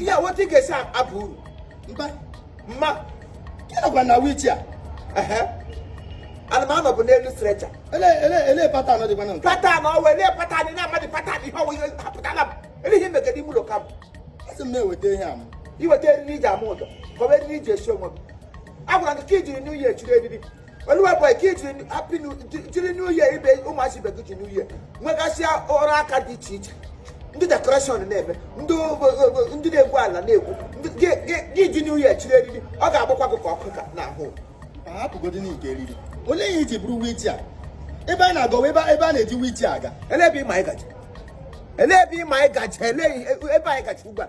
ihe weta ị ga-esi abụ uru mba mma gị nọkwa na wheelchair ana m anọbu n'elu stretcher ele patan dịkwa na nke patan ọwa ele patan na amadị patan ihe ọwa ihe pụta na ele ihe megede ime ụlọ kam asị m na-eweta ihe a m iweta eriri iji ama ụdọ kọba eriri iji esi onwe m agwara gị ka i jiri new year chiri eriri oluwa boy ka i ji happy new jiri new year ibe ụmụazị ibe gị ji new year nwegasịa ọrụ aka dị iche iche ndị dekoreshọn na-eme ndị ndị na-egwu ala na-egwu gị ji new year chiri eriri ọ ga-agbakwa gị ka ọkụ ka n'ahụ hapụgodi n'ike eriri olee ihe i ji buru wheelchair ebe a na-agọwa ebe ebe a na-eji wheelchair aga ele ebe ịma ịgaji ele ebe ịma ịgaji ele ebe anyị gaji ugbu a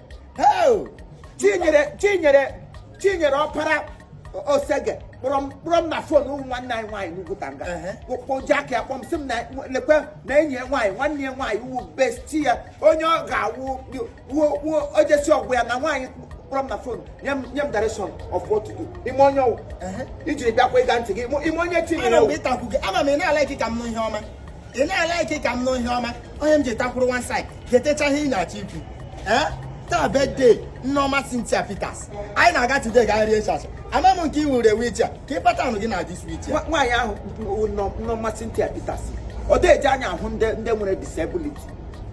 chinyere chinyere chinyere ọpara osege kpọrọ m kpọrọ m na fon ụmụ nwanne anyị nwaanyị n'ugwu tanga kpọji aka ya kpọọ m sị m na lekwe na enyi ya nwaanyị nwanne ya nwaanyị wụ bestie ya onye ọ ga-awụ wuo wuo ojesi ọgwụ ya na nwaanyị kpọrọ m na fon nye m nye m direction of what to do ị ma onye ọ wụ ijiri bịakwa ịge ntị gị ị ma onye chinyere ana m ịtakwu gị ama m ị na-like ka m nụ ihe ọma ị na-like ka m nụ ihe ọma ọ ihe m ji takwuru one side getecha ihe ị na-achọ ikwu ee taa birthday nneọma Cynthia Peters anyị na-aga today ga rie chacha ama m nke i were wheelchair ka ị kpata anụ gị na this wheelchair nwaanyị ahụ bụ nọ- nneọma Cynthia Peters ọ dịghị eji anya ahụ ndị ndị nwere disability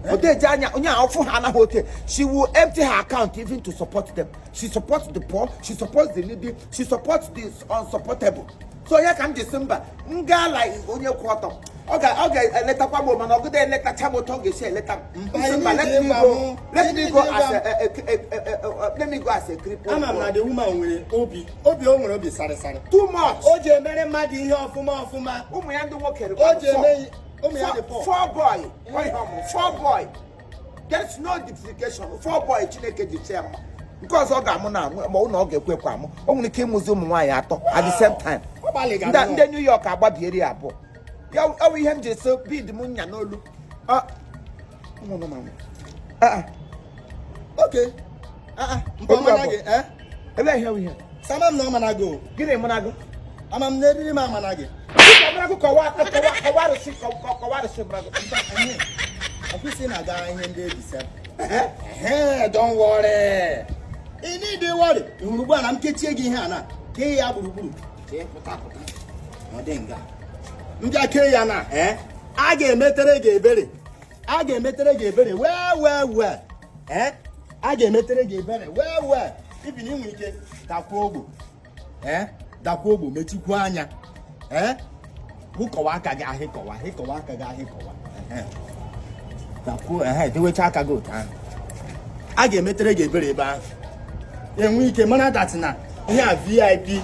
ọ dịghị eji anya onye a ọ fụ ha anaghị oke she will empty her account even to support them she supports the poor she supports the needy she supports the unsupportable so ọ ya ka m ji sị mba m gaa like onye kwụ ọtọ ọ ga-eletakwa m mana ọgụda eletacha m otu ọ ga-esi eleta m mba let me go let me go as a let me go as a cripple ama m na the woman nwere obi obi o nwere obi sarịsarị too much o ji emere mmadụ ihe ọfụma ọfụma ụmụ ya ndị nwoke o ji eme ụmụ ya dị pọ four boy four boy there is no justification four boy chineke ji sị mba nke ọzọ ọ ga-amụ na amụ ma ụlọ ọ ga-ekwe ekwe amụ o nwere ike ịmụzi ụmụ nwaanyị atọ at the same time ndị New York agbabieri abụọ ya ọ wụ ihe m ji so bead m nya n'olu ah, ah, ah. okay So ama m na ọ mana gị o. Gịnị mana gị? Ama m na eriri m amana gị. Ọbụlagụ kọwa kọwa arụsị kọwa arụsị bụlagụ. Ọfịsị na-aga ihe ndị ebisa. Don't worry. Ị na-ede worry. Ị hụrụ ugbu a na m kechie gị ihe a na kee ya gburugburu. Kee pụta pụta. Ọ dị nga. M bịa kee ya na a ga-emetere gị ebere. a ga-emetere gị ebere wee wee wee ee a ga-emetere gị ebere wee wee ibi na i nwee ike dakwuo ogbo ee dakwuo ogbo mechikwuo anya ee hịkọwa aka gị ahịkọwa dakwuo ehe dewecha aka gị otu ahụ a ga-emetere gị ebere ebe ahụ e nwee ike mara that na ihe a vip